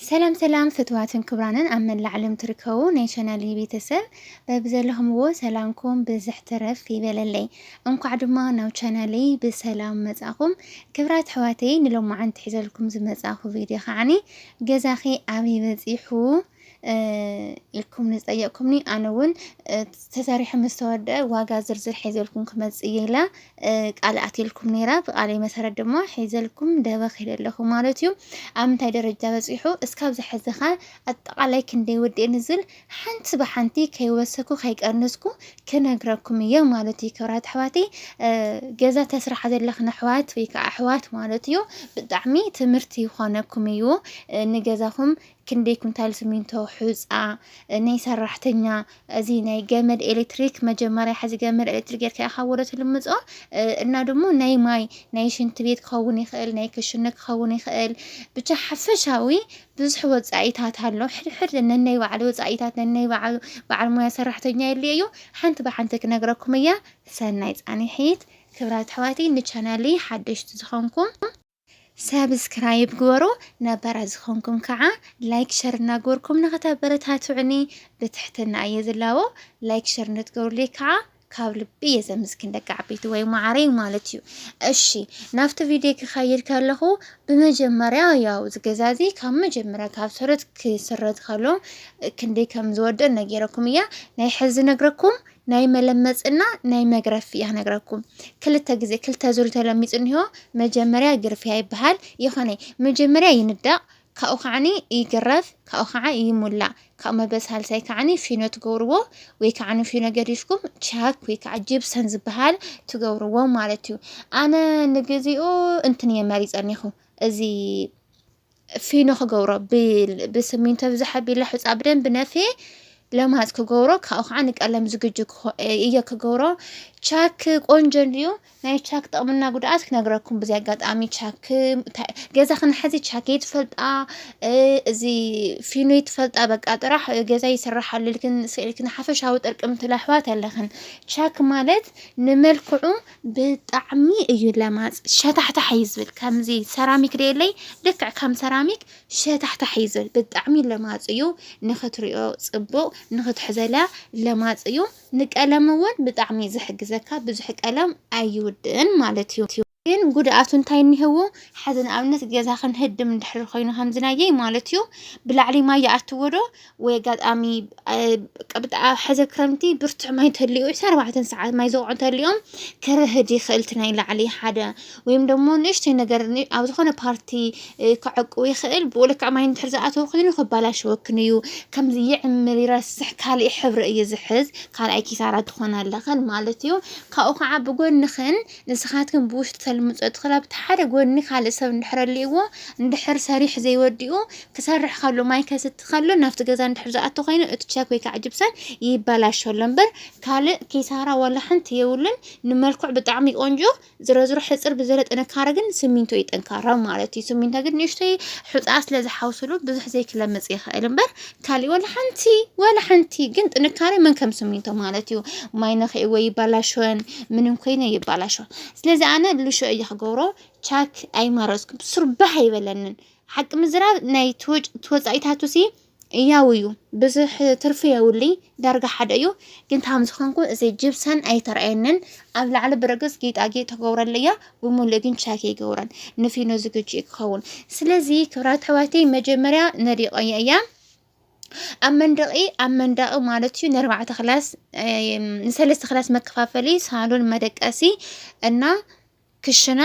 ሰላም ሰላም ፍትዋትን ክብራንን ኣብ መላእ ዓለም ትርከቡ ናይ ቻናል ቤተሰብ በብዘለኹምዎ ሰላምኩም ብዝሕ ትረፍ ይበለለይ። እንኳዕ ድማ ናብ ቻናለይ ብሰላም መጻኹም። ክብራት ሕዋተይ ንሎማዓንቲ ሒዘልኩም ዝመጻኹ ቪድዮ ከዓኒ ገዛኺ ኣበይ በጺሑ ኢልኩም ንዝጠየቅኩምኒ ኣነ እውን ተሰሪሑ ምስ ተወደአ ዋጋ ዝርዝር ሒዘልኩም ክመፅእ እየ ኢላ ቃል ኣትልኩም ነይራ። ብቃለይ መሰረት ድማ ሒዘልኩም ደበ ክይደ ኣለኹ ማለት እዩ። ኣብ ምንታይ ደረጃ በፂሑ እስካብ ዝሐዝኻ ኣጠቃላይ ክንደይ ውድእ ንዝል ሓንቲ ብሓንቲ ከይወሰኩ ከይቀንስኩ ክነግረኩም እየ ማለት እዩ። ክብራት ኣሕዋተይ ገዛ ተስራሓ ዘለኽን ኣሕዋት ወይ ከዓ ኣሕዋት ማለት እዩ ብጣዕሚ ትምህርቲ ይኾነኩም እዩ ንገዛኹም ክንደይ ኩንታል ስሚንቶ፣ ሑጻ ናይ ሰራሕተኛ፣ እዚ ናይ ገመድ ኤሌክትሪክ መጀመርያ ሕዚ ገመድ ኤሌክትሪክ ጌርካ ኢኻ ወደ ትልምጾ እና ድሞ ናይ ማይ ናይ ሽንቲ ቤት ክኸውን ይኽእል ናይ ክሽነ ክኸውን ይኽእል ብቻ ሓፈሻዊ ብዙሕ ወጻኢታት ኣሎ። ሕድሕድ ነናይ ባዕሉ ወጻኢታት ነናይ ባዕሉ በዓል ሞያ ሰራሕተኛ የድልዮ እዩ። ሓንቲ ብሓንቲ ክነግረኩም እያ። ሰናይ ጻኒሒት ክብራት ኣሕዋተይ ንቻናለይ ሓደሽቲ ዝኾንኩም ሳብስክራይብ ግበሩ ነባራት ዝኾንኩም ከዓ ላይክ ሸር እናገበርኩም ንኸተበረታትዑኒ ብትሕትና እየ ዝላቦ ላይክ ሸር ንትገብሩለይ ከዓ ካብ ልቢ እየ ዘምስግን ደቂ ዓበይቲ ወይ ማዕረይ ማለት እዩ። እሺ ናብቲ ቪድዮ ክኸይድ ከለኹ ብመጀመርያ ያው ዝገዛዚ ካብ መጀመርያ ካብ ሰረት ክስረት ከሎ ክንደይ ከም ዝወደእ ነጊረኩም እያ ናይ ሕዚ ነግረኩም ናይ መለመፅ እና ናይ መግረፍ እያ ክነግረኩም ክልተ ግዜ ክልተ ዙር ተለሚፁ እኒሆ መጀመርያ ግርፍያ ይበሃል ይኾነ መጀመርያ ይንዳቕ ካብኡ ከዓኒ ይግረፍ ካብኡ ከዓ ይሙላእ ካብ መበል ሳልሳይ ከዓኒ ፊኖ ትገብርዎ ወይ ከዓኒ ፊኖ ገዲፍኩም ቻክ ወይ ከዓ ጅብሰን ዝበሃል ትገብርዎ ማለት እዩ ኣነ ንግዚኡ እንትን እየ መሪፀ እኒኹ እዚ ፊኖ ክገብሮ ብስሚንቶ ብዛሓ ቢላ ሑፃ ብደንብ ነፍየ ለማፅ ክገብሮ ካብኡ ከዓ ንቀለም ዝግጁ እየ ክገብሮ ቻክ ቆንጆ እንድዩ ናይ ቻክ ጥቕምና ጉድኣት ክነግረኩም ብዚ ኣጋጣሚ ቻክ ገዛ ክንሓዚ ቻክ ይትፈልጣ እዚ ፊኖ ይትፈልጣ በቃ ጥራሕ ገዛ ይስራሓሉ ኢልክን ስኢልክን ሓፈሻዊ ጥርቅምቲ ለሕዋት ኣለኽን ቻክ ማለት ንመልክዑ ብጣዕሚ እዩ ለማፅ ሸታሕታሕ እዩ ዝብል ከምዚ ሰራሚክ ደየለይ ልክዕ ከም ሰራሚክ ሸታሕታሕ እዩ ዝብል ብጣዕሚ ለማፅ እዩ ንክትሪኦ ፅቡቅ ንክትሕዘላ ለማፅ እዩ ንቀለም እውን ብጣዕሚ እዩ ዝሕግዘካ ብዙሕ ቀለም ኣይውድእን ማለት እዩ ግን ጉድኣቱ እንታይ እኒህዎ ሓዚ ንኣብነት ገዛ ክንህድም እንድሕር ኮይኑ ከምዝናየይ ማለት እዩ ብላዕሊ ማይ ይኣትዎ ዶ ወይ ኣጋጣሚ ቅብጣ ሕዘ ክረምቲ ብርቱዕ ማይ እንተልዩ ዕስራ ኣርባዕተን ሰዓት ማይ ዘውዑ እንተልዮም ክርህድ ይኽእል እቲ ናይ ላዕሊ ሓደ ወይም ደሞ ንእሽተይ ነገር ኣብ ዝኾነ ፓርቲ ክዕቁ ይኽእል ብኡ ልክዕ ማይ እንድሕር ዝኣተወ ኮይኑ ክበላሸወክን እዩ ከምዚ ይዕምር ይረስሕ ካልእ ሕብሪ እዩ ዝሕዝ ካልኣይ ኪሳራ ትኾና ኣለኽን ማለት እዩ ካብኡ ከዓ ብጎንኽን ንስኻትክን ብውሽጢ ተልምጾ እቲ ክላብ እቲ ሓደ ጎድኒ ካልእ ሰብ እንድሕር ኣልእዎ እንድሕር ሰሪሕ ዘይወዲኡ ክሰርሕ ከሎ ማይ ከስቲ ከሎ ናብቲ ገዛ እንድሕር ዝኣቱ ኮይኑ እቲ ቸክ ወይ ከዓ ጅብሰን ይበላሾ ኣሎ እምበር ካልእ ኪሳራ ዋላ ሓንቲ የብሉን ንመልክዑ ብጣዕሚ ቆንጆ ዝረዝሮ ሕፅር ብዝበለ ጥንካረ ግን ስሚንቶ እዩ ጠንካራ ማለት እዩ ስሚንቶ ግን ንእሽተይ ሑፃ ስለ ዝሓውስሉ ብዙሕ ዘይክለምፅ ይኽእል እምበር ካሊእ ወላ ሓንቲ ወላ ሓንቲ ግን ጥንካሬ መን ከም ስሚንቶ ማለት እዩ ማይ ነኺዕዎ ይባላሸወን ምንም ኮይነ ይባላሸወን ስለዚ ኣነ ልሾ እየ ክገብሮ ቻክ ኣይማረፅኩ ስርባሕ ኣይበለንን ሓቂ ምዝራብ ናይ ተወፃኢታቱ ሲ ያው እዩ ብዙሕ ትርፊ የብሉይ ዳርጋ ሓደ እዩ ግን ታም ዝኾንኩ እዚ ጅብሰን ኣይተረኣየንን ኣብ ላዕሊ ብርግፅ ጌጣጌጥ ተገብረለያ ብሙሉእ ግን ቻክ ኣይገብሮን ንፊኖ ዝግጅ እዩ ክኸውን ስለዚ ክብራት ኣሕዋተይ መጀመርያ ነዲቆየ እያ ኣብ መንደቂ ኣብ መንደቂ ማለት እዩ ንኣርባዕተ ክላስ ንሰለስተ ክላስ መከፋፈሊ ሳሎን መደቀሲ እና ክሽነ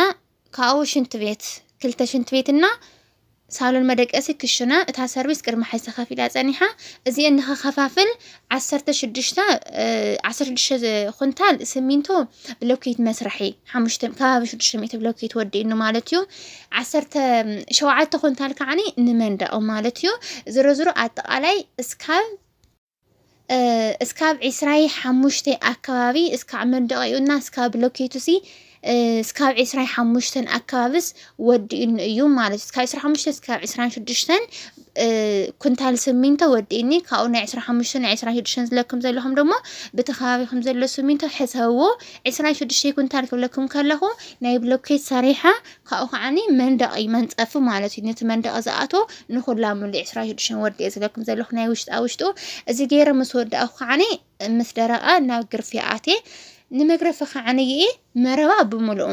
ካብኡ ሽንት ቤት ክልተ ሽንት ቤት እና ሳሎን መደቀሲ ክሽና እታ ሰርቪስ ቅድሚ ሓዚ ተኸፊላ ጸኒሓ እዚኤን ንኸኸፋፍል ዓሰርተ ሽዱሽተ ዓሰርተ ሽዱሽተ ኩንታል ስሚንቶ ብሎኬት መስርሒ ሓሙሽተ ከባቢ ሽዱሽተ ሚእቲ ብሎኬት ወዲእኑ ማለት እዩ ዓሰርተ ሸውዓተ ኩንታል ከዓኒ ንመንደቕ ማለት እዩ ዝሮ ዝሮ ኣጠቓላይ እስካብ እስካብ ዒስራይ ሓሙሽተይ ኣከባቢ እስካዕ መንደቂኡ እና እስካብ ብሎኬቱ ሲ እስካብ ዒስራይ ሓሙሽተን ኣከባብስ ወዲኡኒ እዩ ማለት እዩ። ካብ ዒስራ ሓሙሽተ እስካብ ዒስራን ሽዱሽተን ኩንታል ስሚንቶ ወዲእኒ ካብኡ ናይ ዒስራ ሓሙሽተ ናይ ዒስራ ሽዱሽተን ዝለኩም ዘለኹም ደሞ ብቲ ከባቢኹም ዘሎ ስሚንቶ ሕሰብዎ ዒስራ ሽዱሽተ ኩንታል ክብለኩም ከለኹ ናይ ብሎኬት ሰሪሓ ካብኡ ከዓኒ መንደቒ መንጸፊ ማለት እዩ ነቲ መንደቒ ዝኣቶ ንኹላ ሙሉ ዕስራ ሽዱሽተ ወዲ እየ ዝብለኩም ዘለኹ ናይ ውሽጣ ውሽጡ እዚ ገይረ ምስ ወዳእኩ ከዓኒ ምስ ደረቐ ናብ ግርፊ ኣቴ ንመግረፊ ከዓኒ ይኢ መረባ ብምሉኡ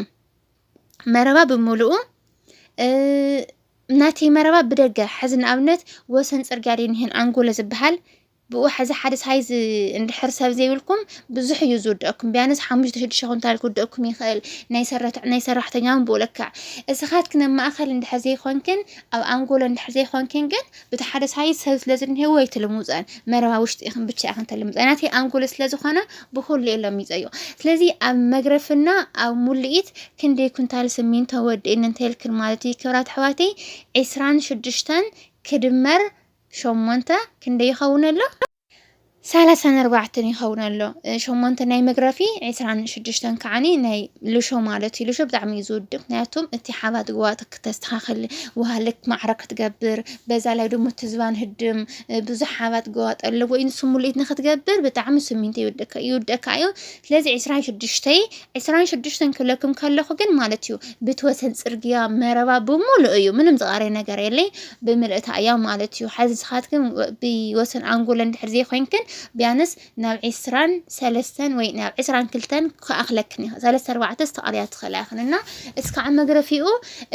መረባ ብምሉኡ ናተይ መረባ ብደገ ሕዚ ንኣብነት ወሰን ፅርግያ ደይ ንሄን ኣንጎሎ ዝበሃል ብኡ ሐዚ ሓደ ሳይዝ እንድሕር ሰብ ዘይብልኩም ብዙሕ እዩ ዝውደኣኩም ቢያንስ ሓሙሽተ ሽዱሽተ ኩንታል ክውደኣኩም ይኽእል ናይ ሰራተ ናይ ሰራሕተኛ እውን ብኡ ልክዕ እስኻትክን ኣብ ማእኸል እንድሕር ዘይኮንክን ኣብ ኣንጎሎ እንድሕር ዘይኮንክን ግን ብቲ ሓደ ሳይዝ ሰብ ስለ ዝንሄዎ ኣይትልሙፀን መረባ ውሽጢ ኢኽን ብቻ ኢኽን ተልምፀ ናተይ ኣንጎሎ ስለ ዝኾነ ብኹሉ እየ ለሚፀዮ ስለዚ ኣብ መግረፍና ኣብ ሙልኢት ክንደይ ኩንታል ስሚንቶ ወዲእኒ እንተልክን ማለት እዩ ክብራት ኣሕዋተይ ዕስራን ሽዱሽተን ክድመር ሸሞንተ ክንደይ ይኸውን ኣሎ? ሰላሳን ኣርባዕተን ይኸውን ኣሎ። ሸሞንተ ናይ መግረፊ ዕስራን ሽዱሽተን ከዓኒ ናይ ልሾ ማለት እዩ። ልሾ ብጣዕሚ እዩ ዝውድእ፣ ምክንያቱም እቲ ሓባት ግዋት ክተስተኻኽል ውሃልክ ማዕረ ክትገብር፣ በዛ ላይ ደሞ ትዝባን ህድም ብዙሕ ሓባት ግዋጥ ኣለዎ እዩ። ንሱ ሙልኢት ንክትገብር ብጣዕሚ ስሚንቶ ይውደካ እዩ። ስለዚ ዕስራን ሽዱሽተይ ዕስራን ሽዱሽተን ክብለኩም ከለኹ ግን ማለት እዩ ብትወሰን ፅርግያ መረባ ብሙሉእ እዩ፣ ምንም ዝቃረይ ነገር የለይ። ብምልእታ እያ ማለት እዩ። ሓዚ ንስኻትክን ብወሰን ኣንጎለን ድሕር ዘይኮንክን ቢያንስ ናብ ዕስራን ሰለስተን ወይ ናብ ዕስራን ክልተን ክኣኽለክን እዩ ሰለስተ ኣርባዕተ ዝተቐልያ ትኽእላ ይኽን እና እስካዕ መግረፊኡ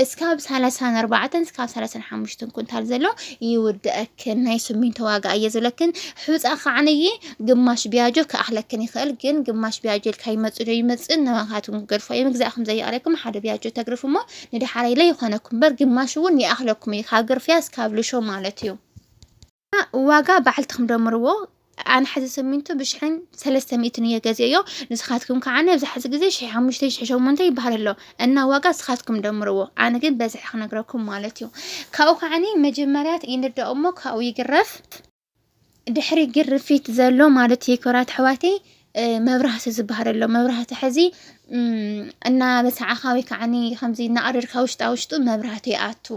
እስካብ ሰላሳን ኣርባዕተን እስካብ ሰላሳን ሓሙሽተን ኩንታል ዘሎ ይውድአክን ናይ ስሚንቶ ዋጋ እየ ዝብለክን ሑፃ ከዓነየ ግማሽ ቢያጆ ክኣኽለክን ይኽእል ግን ግማሽ ቢያጆ ኢልካ ይመፅእ ዶ ይመፅእ ንባኻትኩም ክገድፎ እየ ምግዛእኩም ዘየቕረብኩም ሓደ ቢያጆ ተግርፍ እሞ ንደሓር ኢለ ይኾነኩም በር ግማሽ እውን ይኣኽለኩም እዩ ካብ ግርፍያ እስካብ ልሾ ማለት እዩ ዋጋ ባዕልትኹም ደምርዎ ኣነ ሕዚ ስሚንቶ ብሽሕን ሰለስተ ሚእትን እየ ገዚኦዮ ንስኻትኩም ከዓ ኣብዚ ሕዚ ግዜ ሽሕ ሓሙሽተ ሽሕ ሸሞንተ ይበሃል ኣሎ እና ዋጋ ንስኻትኩም ደምርዎ ኣነ ግን በዝሒ ክነግረኩም ማለት እዩ ካብኡ ከዓኒ መጀመርያት ይንዳእ እሞ ካብኡ ይግረፍ ድሕሪ ግርፊት ዘሎ ማለት እዩ ክብራት ኣሕዋተይ መብራህቲ ዝበሃል ኣሎ መብራህቲ ሕዚ እናበሰዓኻ ወይ ከዓኒ ከምዚ እናቐደድካ ውሽጣ ውሽጡ መብራህቲ ይኣቱ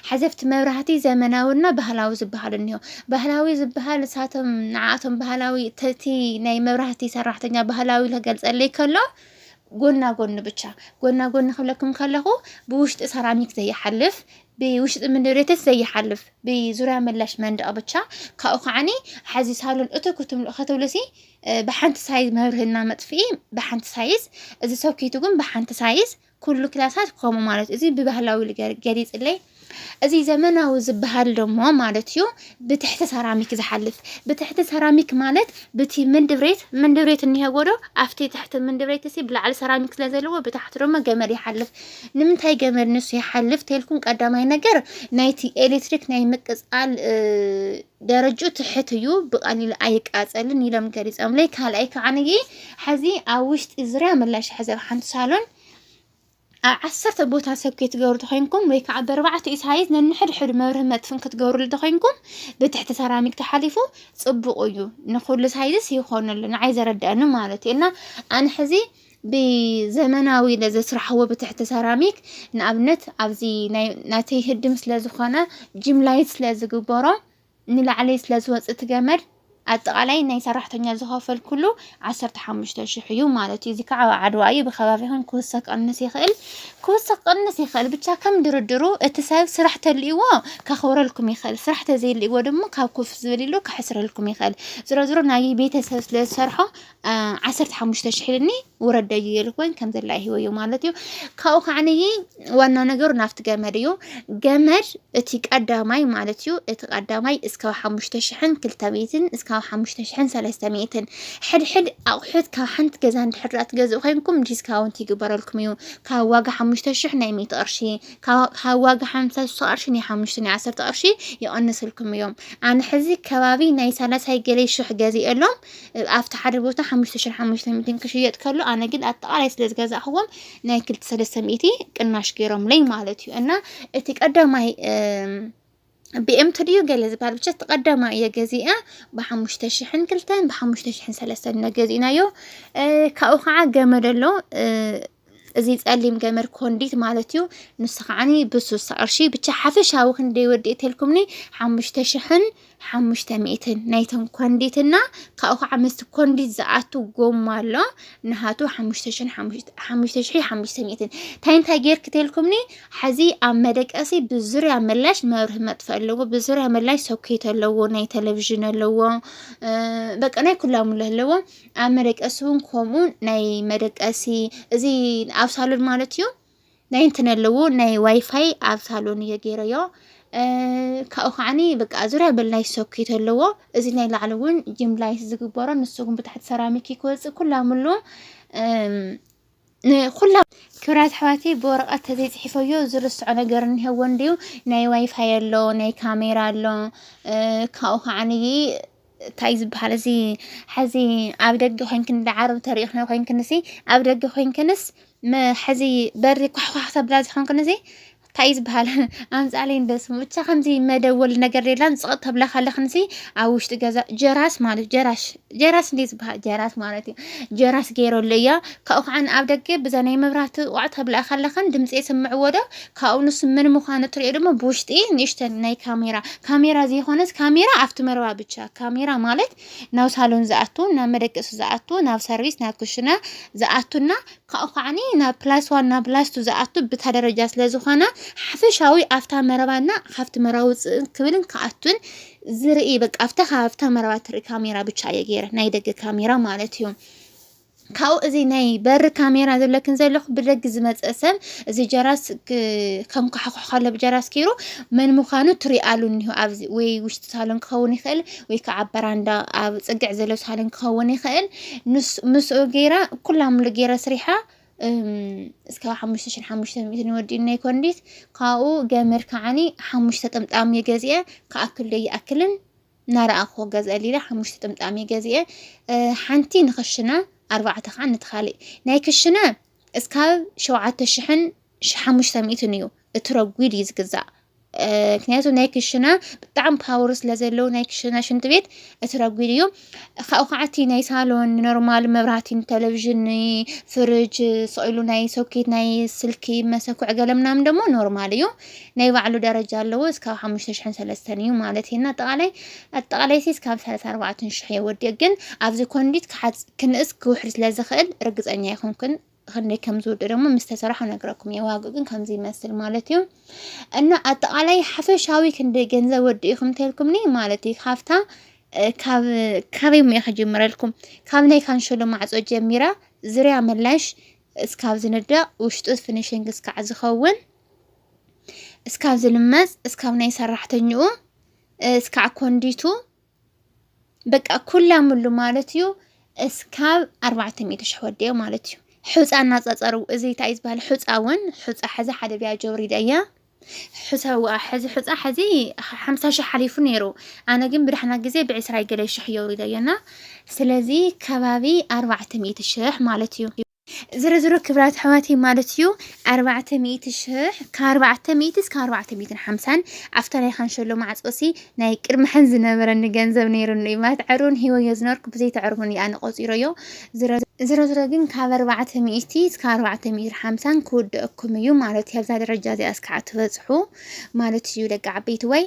ሓዘፍቲ መብራህቲ ዘመናዊና ባህላዊ ዝበሃል እኒሆ ባህላዊ ዝበሃል ንሳቶም ንዓኣቶም ባህላዊ ተቲ ናይ መብራህቲ ሰራሕተኛ ባህላዊ ክገልፀለይ ከሎ ጎና ጎኒ ብቻ ጎና ጎኒ ክብለኩም ከለኹ ብውሽጢ ሰራሚክ ዘይሓልፍ ብውሽጢ ምንድሬተት ዘይሓልፍ ብዙርያ መላሽ መንደቕ ብቻ ካብኡ ከዓኒ ሓዚ ሳሎን እቶ ክትምልኡ ከትብሉሲ ብሓንቲ ሳይዝ መብርህና መጥፍኢ ብሓንቲ ሳይዝ እዚ ሶኬቱ ግን ብሓንቲ ሳይዝ ኩሉ ክላሳት ከምኡ ማለት እዚ ብባህላዊ ገሊፅለይ እዚ ዘመናዊ ዝበሃል ደሞ ማለት እዩ ብትሕቲ ሰራሚክ ዝሓልፍ ብትሕቲ ሰራሚክ ማለት ብቲ ምንድብሬት ምንድብሬት እኒሀዎ ዶ ኣብቲ ትሕቲ ምንድብሬት እሲ ብላዕሊ ሰራሚክ ስለ ዘለዎ ብታሕቲ ደሞ ገመድ ይሓልፍ ንምንታይ ገመድ ንሱ ይሓልፍ ተልኩም ቀዳማይ ነገር ናይቲ ኤሌክትሪክ ናይ ምቅፃል ደረጅኡ ትሕት እዩ ብቀሊሉ ኣይቃፀልን ኢሎም ገሊፆምለይ ካልኣይ ከዓንይ ሕዚ ኣብ ውሽጢ ዙርያ ምላሽ ሕዚ ኣብ ሓንቲ ሳሎን ኣብ ዓሰርተ ቦታ ሰብ ከይትገብሩ ተኮይንኩም ወይ ከዓ ብኣርባዕተ እዩ ሳይዝ ነንሕድሕዱ መብርህ መጥፍን ክትገብሩሉ ተኮይንኩም ብትሕቲ ሰራሚክ ተሓሊፉ ፅቡቅ እዩ ንኩሉ ሳይዝስ ይኮነሉ ንዓይ ዘረድኣኒ ማለት እዩ እና ኣነ ሕዚ ብዘመናዊ ነዚ ስራሕዎ ብትሕቲ ሰራሚክ ንኣብነት ኣብዚ ናይ ናተይ ህድም ስለ ዝኾነ ጂም ላይት ስለ ዝግበሮ ንላዕሊ ስለ ዝወጽእ እቲ ገመድ ኣጠቃላይ ናይ ሰራሕተኛ ዝኸፈልኩሉ ዓሰርተ ሓሙሽተ ሽሕ እዩ ማለት እዩ። እዚ ከዓ ኣብ ዓድዋ እዩ ብከባቢኹም ክውሰኽ ቀንስ ይኽእል ክውሰኽ ቀንስ ይኽእል ብቻ ከም ድርድሩ እቲ ሰብ ስራሕ ተልእዎ ከኽብረልኩም ይኽእል ስራሕ ተዘይልእዎ ድማ ካብ ኮፍ ዝብል ኢሉ ከሕስረልኩም ይኽእል ዝሮ ዝሮ ናይ ቤተሰብ ስለ ዝሰርሖ ዓሰርተ ሓሙሽተ ሽሕ ኢልኒ ውረደዩ ይልኮኝ ከም ዘላ ይህበዮ ማለት እዩ ካብኡ ከዓንይ ዋና ነገሩ ናብቲ ገመድ እዩ ገመድ እቲ ቀዳማይ ማለት እዩ እቲ ቀዳማይ እስካብ ሓሙሽተ ሽሕን ክልተ ሚእትን እስካብ ሓሙሽተ ሽሕን ሰለስተ ሚእትን ሕድሕድ ኣቑሑት ካብ ሓንቲ ገዛ እንድሕር ትገዝኡ ኮይንኩም ዲስካውንት ይግበረልኩም እዩ ካብ ዋጋ ሓሙሽተ ሽሕ ናይ ሚእቲ ቅርሺ ካብ ዋጋ ሓምሳ ሽተ ቅርሺ ናይ ሓሙሽተ ናይ ዓሰርተ ቅርሺ ይቕንስልኩም እዮም ኣነ ሕዚ ከባቢ ናይ ሳላሳይ ገለይ ሽሕ ገዚኤሎም ኣብቲ ሓደ ቦታ ሓሙሽተ ሽሕን ሓሙሽተ ሚእትን ክሽየጥ ከሎ ኣነ ግን ኣጠቓላይ ስለ ዝገዛእኽዎም ናይ ክልተ ሰለስተ ሚእቲ ቅናሽ ገይሮምለይ ማለት እዩ እና እቲ ቀዳማይ ብኤምቲ ድዩ ገለ ዝበሃል ብቻ እቲ ቀዳማይ እየ ገዚአ ብሓሙሽተ ሽሕን ክልተን ብሓሙሽተ ሽሕን ሰለስተን ኢና ገዚእናዮ እ፣ ካብኡ ከዓ ገመድ ኣሎ እ፣ እዚ ጸሊም ገመድ ኮንዲት ማለት እዩ። ንሱ ከዓኒ ብሱሳ ቅርሺ ብቻ ሓፈሻዊ ክንደይ ወዲእ ተልኩምኒ ሓሙሽተ ሽሕን ሓሙሽተ ሚእትን ናይቶም ኮንዲትና ካብኡ ከዓ ምስቲ ኮንዲት ዝኣቱ ጎማ ኣሎ ንሃቱ ሓሙሽተ ሽሕን ሓሙሽተ ሽሒ ሓሙሽተ ሚእትን እንታይ እንታይ ጌርክ ተልኩምኒ ሓዚ ኣብ መደቀሲ ብዙርያ መላሽ መብርህ መጥፍእ ኣለዎ ብዙርያ መላሽ ሶኬት ኣለዎ ናይ ቴሌቭዥን ኣለዎ በቃ ናይ ኩላሙላ ኣለዎ ኣብ መደቀሲ እውን ከምኡ ናይ መደቀሲ እዚ ኣብ ሳሎን ማለት እዩ ናይ እንትን ኣለዎ ናይ ዋይፋይ ኣብ ሳሎን እየ ገይረዮ ካብኡ ከዓኒ በቃ ዙሪያ በል ናይ ሶኬት ኣለዎ እዚ ናይ ላዕሊ እውን ጅምላይት ዝግበሮ ንሱ እውን ብታሕቲ ሰራሚክ ክወፅእ ኩላምሉ ንኩሎም ክብራት ኣሕዋተይ ብወረቐት ተዘይፅሒፈዮ ዝርስዖ ነገር እኒሀዎ እንድዩ ናይ ዋይፋይ ኣሎ ናይ ካሜራ ኣሎ ካብኡ ከዓንይ እንታይ እዩ ዝበሃል እዚ ሐዚ ኣብ ደገ ኮይንክን እንዳ ዓረብ ተሪእኽንዮ ኮይንክንሲ ኣብ ደገ ኮይንክንስ ሐዚ በሪ ኳሕኳሕ ተብላ ዝኮንክንሲ ታይ እዩ ዝበሃል ኣምፃለይ እንዶ ስሙ ብቻ ከምዚ መደወሊ ነገር የላን ፅቕጥ ተብላ ከለኽንሲ ኣብ ውሽጢ ገዛ ጀራስ ማለት ጀራሽ ጀራስ እንዴ ዝበሃል ጀራስ ማለት እዩ ጀራስ ገይረሉ እያ ካብኡ ከዓ ኣብ ደገ ብዛ ናይ መብራህቲ ቋዕ ተብላ ከለኽን ድምፂ የስምዕዎ ዶ ካብኡ ንሱ ምን ምዃኑ እትሪኦ ድማ ብውሽጢ ንእሽተን ናይ ካሜራ ካሜራ ዘይኮነስ ካሜራ ኣብቲ መረባ ብቻ ካሜራ ማለት ናብ ሳሎን ዝኣቱ ናብ መደቀሲ ዝኣቱ ናብ ሰርቪስ ናብ ክሽነ ዝኣቱና ካብኡ ከዓኒ ናብ ፕላስ ዋን ናብ ፕላስ ቱ ዝኣቱ ብታ ደረጃ ስለ ዝኾነ ሓፈሻዊ ኣብታ መረባ እና ካብቲ መረባ ውፅእን ክብልን ክኣቱን ዝርኢ በቃ ኣብታ ካብታ መረባ ትርኢ ካሜራ ብቻ እየ ገይረ ናይ ደገ ካሜራ ማለት እዩ ካብኡ እዚ ናይ በሪ ካሜራ ዘለክን ዘለኹ ብደግ ዝመፀ ሰብ እዚ ጀራስ ከም ካሕኩሕ ከሎ ብጀራስ ገይሩ መን ምዃኑ ትሪኣሉ እኒሆ ኣብዚ ወይ ውሽጢ ሳሎን ክኸውን ይኽእል ወይ ከዓ ኣብ በራንዳ ኣብ ፅግዕ ዘሎ ሳሎን ክኸውን ይኽእል ንሱ- ምስኡ ገይራ ኩላ ምሉ ገይረ ስሪሓ እም፣ እስከ ሓሙሽተ ሽሕን ሓሙሽተ ሚእትን ይወዲኡ ናይ ኮንዲት ካብኡ ገመድ ከዓኒ ሓሙሽተ ጥምጣም እየ ገዚአ ክኣክል ዶ ይኣክልን ናረኣኹ ገዝአሊ ኢለ ሓሙሽተ ጥምጣም እየ ገዚአ እ፣ ሓንቲ ንክሽነ ኣርባዕተ ከዓ ነቲ ካልእ ናይ ክሽነ እስካብ ሸውዓተ ሽሕን ሺሕ ሓሙሽተ ሚእትን እዩ እቲ ረጒድ እዩ ዝግዛእ ምክንያቱ ናይ ክሽነ ብጣዕሚ ፓወር ስለ ዘለዎ ናይ ክሽነ ሽንቲ ቤት እቲ ረጒድ እዩ ካብኡ ከዓ እቲ ናይ ሳሎን ኖርማል መብራህቲ ቴሌቭዥን ፍርጅ ስኢሉ ናይ ሶኬት ናይ ስልኪ መሰኩዕ ገለ ምናምን ደግሞ ኖርማል እዩ ናይ ባዕሉ ደረጃ ኣለዎ እስካብ ሓሙሽተ ሽሕን ሰለስተን እዩ ማለት እዩ እና ኣጠቃላይ ኣጠቃላይ ሲ እስካብ ሰላሳ ኣርባዕትን ሽሕ የወዲእ ግን ኣብዚ ኮንዲት ክሓፅ ክንእስ ክውሕድ ስለ ዝኽእል ርግፀኛ ኣይኮንኩን ክንደይ ከም ዝውድ ደግሞ ምስ ተሰራሑ ነግረኩም እየ። ዋግኡ ግን ከምዚ ይመስል ማለት እዩ እና ኣጠቃላይ ሓፈሻዊ ክንደይ ገንዘብ ወዲእኹም ተልኩምኒ ማለት እዩ ካብታ ካበይ ሙያ ክጅምረልኩም ካብ ናይ ካንሸሎ ማዕፆ ጀሚራ ዝርያ ምላሽ እስካብ ዝንደቕ ውሽጡ ፊኒሽንግ እስካዕ ዝኸውን እስካብ ዝልመፅ እስካብ ናይ ሰራሕተኛኡ እስካዕ ኮንዲቱ በቃ ኩላ ምሉ ማለት እዩ እስካብ ኣርባዕተ ሚእቲ ሽሕ ወዲኦ ማለት እዩ ሑፃ እናፀፀሩ እዚ እንታይ ዝበሃል ሑፃ እውን ሑፃ ሕዚ ሓደ ቢያ ጀውሪዳ እያ ሕዚ ሑፃ ሕዚ ሓምሳ ሽሕ ሓሊፉ ነይሩ ኣነ ግን ብድሕና ግዜ ብዕስራ ገለ ሽሕ የውሪዶ እየና ስለዚ ከባቢ ኣርባዕተ ሚእቲ ሽሕ ማለት እዩ ዝሮዝሮ ክብራት ኣሕዋተይ ማለት እዩ ኣርባዕተ ሚእቲ ሽሕ ካብ ኣርባዕተ ሚእቲ እስከ ኣርባዕተ ሚእትን ሓምሳን ኣብታ ናይ ካንሸሎ ማዕጾሲ ናይ ቅድሚ ሕን ዝነበረኒ ገንዘብ ነይሩኒ እዩ ማለት ዕሩን ሂወዮ ዝነበርኩ ብዘይተዕርቡን እዩ ኣነ ቆፂሮዮ ዝሮ ዝሮዝሮ ግን ካብ ኣርባዕተ ሚእቲ እስከ ኣርባዕተ ሚእትን ሓምሳን ክውደአኩም እዩ ማለት እዩ ኣብዛ ደረጃ እዚኣ እስከ ትበፅሑ ማለት እዩ ደቂ ዓበይቲ ወይ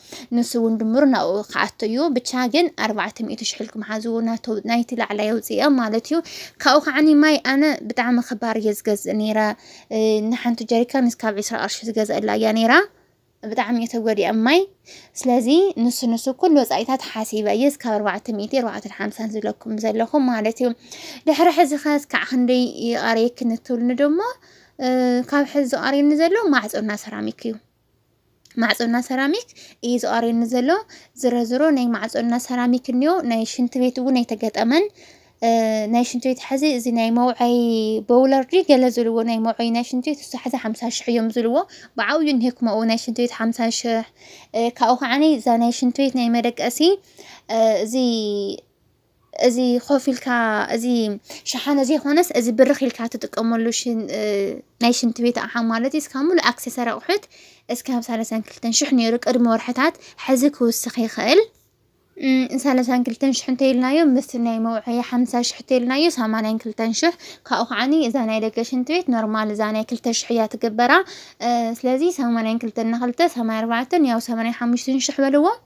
ንሱ ውን ድምሩ ናብኡ ክኣቱ እዩ ብቻ ግን ኣርባዕተ ሚእቲ ሽሕ ኢልኩም ሓዝዎ ናቱ ናይቲ ላዕላይ ኣውጽኦም ማለት እዩ ካብኡ ከዓኒ ማይ ኣነ ብጣዕሚ ክባር እየ ዝገዝእ ነይረ ንሓንቲ ጀሪካን እስካብ ዕስራ ቅርሺ ዝገዝአላ እያ ነይራ ብጣዕሚ እየ ተጎዲኣ ማይ ስለዚ ንሱ ንሱ ኩሉ ወፃኢታት ሓሲበ እየ እስካብ ኣርባዕተ ሚእቲ ኣርባዕተ ሓምሳን ዝብለኩም ዘለኹ ማለት እዩ ድሕሪ ሕዚ ከ እስካዕ ክንደይ ይቐርየኪ ንትብልኒ ደሞ ካብ ሕዚ ዝቐርየኒ ዘሎ ማዕፆና ሰራሚክ እዩ ማዕጾና ሰራሚክ እዩ ዝቀርየኒ ዘሎ ዝረዝሮ ናይ ማዕጾና ሰራሚክ እንዮ ናይ ሽንቲ ቤት እውን ኣይተገጠመን ናይ ሽንቲ ቤት ሕዚ እዚ ናይ መውዐይ በውለር ድዩ ገለ ዝብልዎ ናይ መውዐይ ናይ ሽንቲ ቤት እሱ ሕዚ ሓምሳ ሽሕ እዮም ዝብልዎ ብዓብዩ እንሄኩ መኡ ናይ ሽንቲ ቤት ሓምሳ ሽሕ ካብኡ ከዓኒ እዛ ናይ ሽንቲ ቤት ናይ መደቀሲ እዚ እዚ ኮፍ ኢልካ እዚ ሸሓነ ዘይኮነስ እዚ ብርኽ ኢልካ ትጥቀመሉ ናይ ሽንቲ ቤት ኣቕሓ ማለት እዩ። እስካብ ሙሉእ ኣክሰሰር ኣቑሑት እስካብ ሰላሳን ክልተን ሽሕ ነይሩ ቅድሚ ወርሕታት ሕዚ ክውስኽ ይኽእል። ሰላሳን ክልተን ሽሕ እንተኢልናዮ ምስ ናይ መውዐያ ሓምሳ ሽሕ እንተኢልናዮ ሰማንያን ክልተን ሽሕ ካብኡ ከዓኒ እዛ ናይ ደገ ሽንቲ ቤት ኖርማል እዛ ናይ ክልተ ሽሕ እያ ትግበራ። ስለዚ ሰማንያን ክልተን ንክልተ ሰማንያ ኣርባዕተን ያው ሰማንያ ሓሙሽተን ሽሕ በልዎ።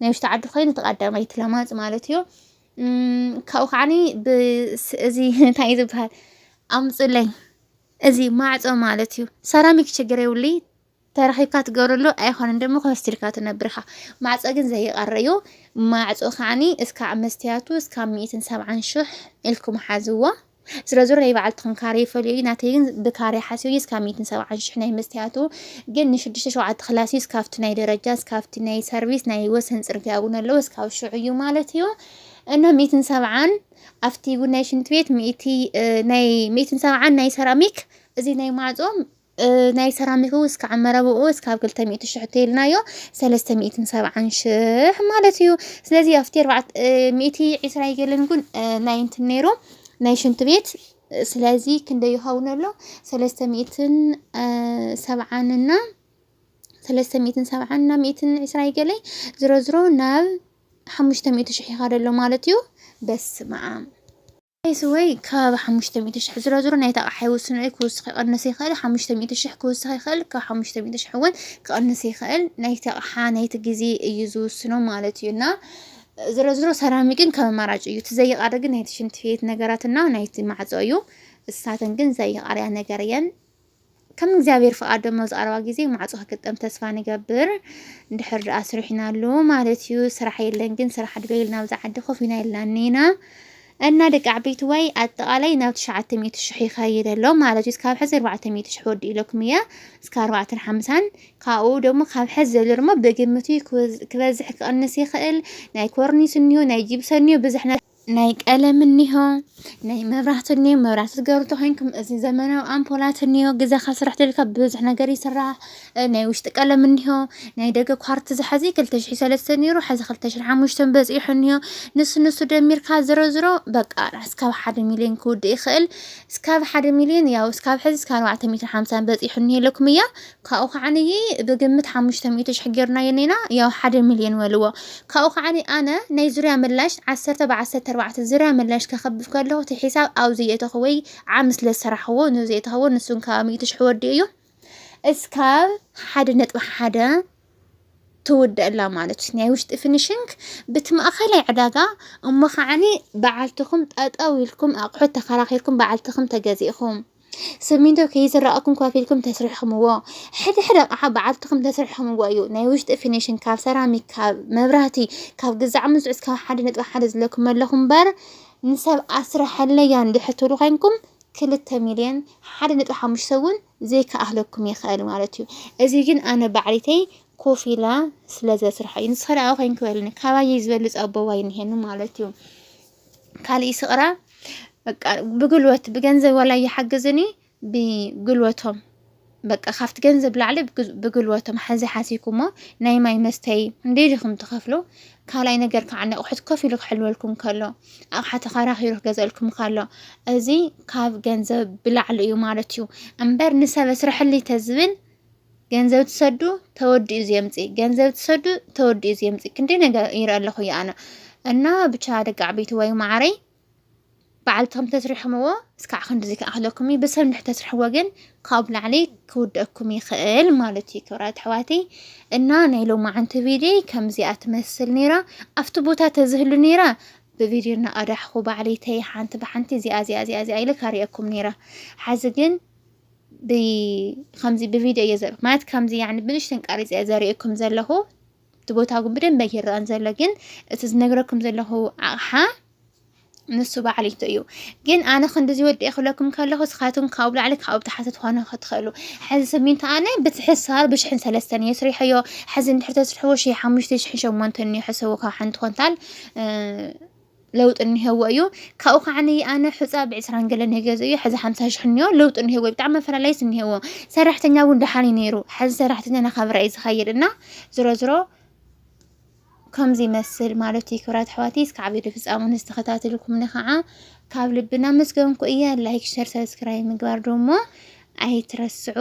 ናይ ውሽጢ ዓዲ ኮይኑ እቲ ቀዳመይቲ ለማጽ ማለት እዩ ካብኡ ከዓኒ እዚ እንታይ ዝበሃል ኣምፁለይ እዚ ማዕፆ ማለት እዩ ሰራሚክ ችግር የብሉ ተረኺብካ ትገብረሉ ኣይኮነን ደሞ ከወስድልካ ትነብርኻ ማዕፆ ግን ዘይቀር እዩ ማዕፆ ከዓኒ እስካዕ መስትያቱ እስካብ ሚእትን ሰብዓን ሽሕ ኢልኩም ሓዝዎ ዝሮ ዝሮ ናይ ባዕልትኽን ካሬ ይፈልዮ እዩ ናተይ ግን ብካሬ ሓስዮ እዩ እስካብ ሚእትን ሰብዓን ሽሕ ናይ መስትያቱ ግን ንሽዱሽተ ሸውዓተ ክላስ እዩ እስካብቲ ናይ ደረጃ እስካብቲ ናይ ሰርቪስ ናይ ወሰን ፅርግያ እውን ኣለዎ እስካብ ሽዑ እዩ ማለት እዩ እና ሚእትን ሰብዓን ኣብቲ እውን ናይ ሽንት ቤት ሚእቲ ናይ ሚእትን ሰብዓን ናይ ሰራሚክ እዚ ናይ ማዕፆ ናይ ሰራሚኩ እስካዕ መረብኡ እስካብ ክልተ ሚእቲ ሽሕ እተይልናዮ ሰለስተ ሚእትን ሰብዓን ሽሕ ማለት እዩ ስለዚ ኣብቲ ኣርባዕተ ሚእቲ ዒስራ ይገልን ጉን ናይ እንትን ነይሩ ናይ ሽንት ቤት ስለዚ ክንደይ ይኸውን ኣሎ ሰለስተ ሚእትን ሰብዓን እና ሰለስተ ሚእትን ሰብዓን እና ሚእትን ዒስራ ይገለይ ዝሮ ዝሮ ናብ ሓሙሽተ ሚእቲ ሽሕ ይኻደሎ ማለት እዩ በስመ ኣብ ፕራይስ ወይ ከባቢ ሓሙሽተ ሚእቲ ሽሕ ዝሮ ዝሮ ናይቲ ኣቕሓ ይውስኖ እዩ ክውስኽ ይቐንስ ይኽእል ሓሙሽተ ሚእቲ ሽሕ ክውስኽ ይኽእል ካብ ሓሙሽተ ሚእቲ ሽሕ እውን ክቐንስ ይኽእል ናይቲ ኣቕሓ ናይቲ ግዜ እዩ ዝውስኖ ማለት እዩ እና ዝሮ ዝሮ ሰራሚ ግን ከም ኣማራጭ እዩ እቲ ዘይቃሪ ግን ናይቲ ሽንቲ ቤት ነገራት እና ናይቲ ማዕፆ እዩ እሳተን ግን ዘይቃርያ ነገር እየን ከም እግዚኣብሔር ፍቃድ ደሞ ዝቀረባ ጊዜ ማዕጾ ክግጠም ተስፋ ንገብር ድሕር ድኣ ስሪሕና ኣሎ ማለት እዩ ስራሕ የለን ግን ስራሕ ድበይል ናብዛ ዓዲ ኮፍ ኢና ኢልና እኒና እና ደቂ ዓበይቲ ወይ ኣጠቃላይ ናብ ትሽዓተ ሚእቲ ሽሕ ይኸይድ ኣሎ ማለት እዩ እስካብ ሕዚ ኣርባዕተ ሚእቲ ሽሕ ወዲ ኢለኩም እየ እስካ ኣርባዕተን ሓምሳን ካብኡ ደሞ ካብ ሕዚ ዘሎ ደሞ ብግምት እዩ ክበዝሕ ክቐንስ ይኽእል ናይ ኮርኒስ እኒዮ ናይ ጂብሰ እኒዮ ብዝሕ ናይ ቀለም እኒሆ ናይ መብራህቲ እኒሆ መብራህቲ ትገብሩ ተኮይንኩም እዚ ዘመናዊ ኣምፖላት እኒሆ ግዛኻ ስራሕ ተልካ ብዙሕ ነገር ይስራሕ ናይ ውሽጢ ቀለም እኒሆ ናይ ደገ ኳርቲ ዝሓዚ ክልተ ሽሕ ሰለስተ ነይሩ ሓዚ ክልተ ሽሕ ሓሙሽተን በፂሑ እኒሆ ንሱ ንሱ ደሚርካ ዝሮ ዝሮ በቃ እስካብ ሓደ ሚሊዮን ክውድእ ይኽእል እስካብ ሓደ ሚሊዮን ያው እስካብ ሕዚ እስካብ ኣርባዕተ ሚእትን ሓምሳን በፂሑ እኒሄ ኢለኩም እያ ካብኡ ከዓንይ ብግምት ሓሙሽተ ሚእቲ ሽሕ ጌርናዮ እኒና ያው ሓደ ሚልዮን በልዎ ካብኡ ከዓኒ ኣነ ናይ ዙርያ ምላሽ ዓሰርተ ብ ዓሰርተ ኣርባዕተ ዙርያ ምላሽ ከክብብ ከለኩ እቲ ሒሳብ ኣብኡ ዘየእተኩ ወይ ዓሚ ስለ ዝሰራሕክዎ ነዚ ዘየእተክዎ ንሱን ካብ ሚእቲ ሽሕ ወዲኡ እዩ እስካብ ሓደ ነጥቢ ሓደ ትውደእላ ማለት እዩ ናይ ውሽጢ ፊኒሽንግ ብቲ ማእኸላይ ዕዳጋ እሞ ከዓኒ በዓልትኩም ጠጠው ኢልኩም ኣቑሑት ተከራኪርኩም በዓልትኩም ተገዚእኩም ስሚንቶ ከይዝረኣኩም ከፊልኩም ተስሪሕኩምዎ ሕደ ሕደ ኣቕሓ በዓልትኹም ተስሪሕኩምዎ እዩ ናይ ውሽጢ ፊኒሽን ካብ ሰራሚክ ካብ መብራህቲ ካብ ግዛዕ ምዝዑዝ ካብ ሓደ ነጥቢ ሓደ ዝለኩም ኣለኹም እምበር ንሰብ ኣስረሐለያ እንድሕር ትብሉ ኮይንኩም ክልተ ሚልዮን ሓደ ነጥቢ ሓሙሽተ እውን ዘይከኣህለኩም ይኽእል ማለት እዩ እዚ ግን ኣነ ባዕሪተይ ኮፍ ኢላ ስለ ዘስርሖ እዩ ንስኸ ደኣ ኮይንክ በልኒ ካባየይ ዝበልፅ ኣቦዋይ እንሄኒ ማለት እዩ ካልእ ይስቕራ በቃ ብጉልበት ብገንዘብ ዋላ ይሓግዝኒ ብጉልበቶም በቃ ካብቲ ገንዘብ ላዕሊ ብግ- ብጉልበቶም ሓዚ ሓሲኩሞ ናይ ማይ መስተይ እንዴል ኢኹም ትኸፍሉ ካልኣይ ነገር ከዓ ንኣቑሑት ኮፍ ኢሉ ክሕልወልኩም ከሎ ኣቕሓ ተኸራኺሩ ክገዘልኩም ከሎ እዚ ካብ ገንዘብ ብላዕሊ እዩ ማለት እዩ እምበር ንሰብ ኣስርሐለይ ተዝብል ገንዘብ ትሰዱ ተወዲኡ ዘምፂእ ገንዘብ ትሰዱ ተወዲኡ ዘምፂእ ክንደይ ነገር ይርኢ ኣለኹ እየ ኣነ እና ብቻ ደቂ ዓበይቲ ወይ ማዕረይ ባዕልትኹም ተስሪሕምዎ እስካዕ ክንድዚ ክኣኽለኩም እዩ ብሰብ ንድሕር ተስርሕዎ ግን ካብ ላዕሊ ክውደኩም ይኽእል ማለት እዩ ክብራት ኣሕዋተይ እና ናይ ሎማዓንቲ ቪድዮ ከምዚኣ ትመስል ነይራ ኣብቲ ቦታ ተዝህሉ ነይራ ብቪድዮ እናቐዳሕኹ ባዕለይተይ ሓንቲ ብሓንቲ እዚኣ እዚኣ እዚኣ እዚኣ ኢለ ካሪአኩም ነይራ ሓዚ ግን ብከምዚ ብቪድዮ እየ ዘር ማለት ከምዚ ያኒ ብንሽተን ቀሪፀ እየ ዘርእየኩም ዘለኹ እቲ ቦታ ግን ብደንብ ኣይረኣን ዘሎ ግን እቲ ዝነግረኩም ዘለኹ ኣቕሓ ንሱ ባዕሊቱ እዩ ግን ኣነ ክንዲዚ ወዲኤ ክብለኩም ከለኹ እስኻትኩም ካብኡ ላዕሊ ካብኡ ታሕቲ ትኾኑ ክትኽእሉ ሕዚ ስሚንቶ ኣነ በቲ ሕሳር ብሽሕን ሰለስተን እየ ስሪሐዮ ሕዚ እንድሕር ተስርሕዎ ሽሕ ሓሙሽተ ሽሕን ሸሞንተን እዩ ሕሰቡ ካብ ሓንቲ ኮንታል እ፣ ለውጢ እኒሀዎ እዩ ካብኡ ከዓ ኣነ ሑፃ ብዕስራን ገለን እየ ገዝኡ ሕዚ ሓምሳ ሽሕ እኒኦ ለውጢ እኒሀዎ እዩ ብጣዕሚ መፈላለይስ እኒሀዎ ሰራሕተኛ እውን ደሓን እዩ ነይሩ ሕዚ ሰራሕተኛ ናኸብረ እዩ ዝኸይድ እና ዝሮ ዝሮ ከምዚ ይመስል ማለት እዩ ክብራት ኣሕዋተይ እስካዕ ቪድዮ ፍፃሙ ንዝተኸታተልኩምኒ ከዓ ካብ ልቢ እናመስገንኩ እየ ላይክ ሸር ሰብስክራይብ ምግባር ደሞ ኣይትረስዑ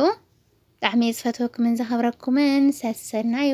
ብጣዕሚ እየ ዝፈትወኩምን ዘኸብረኩምን ሰሰናዩ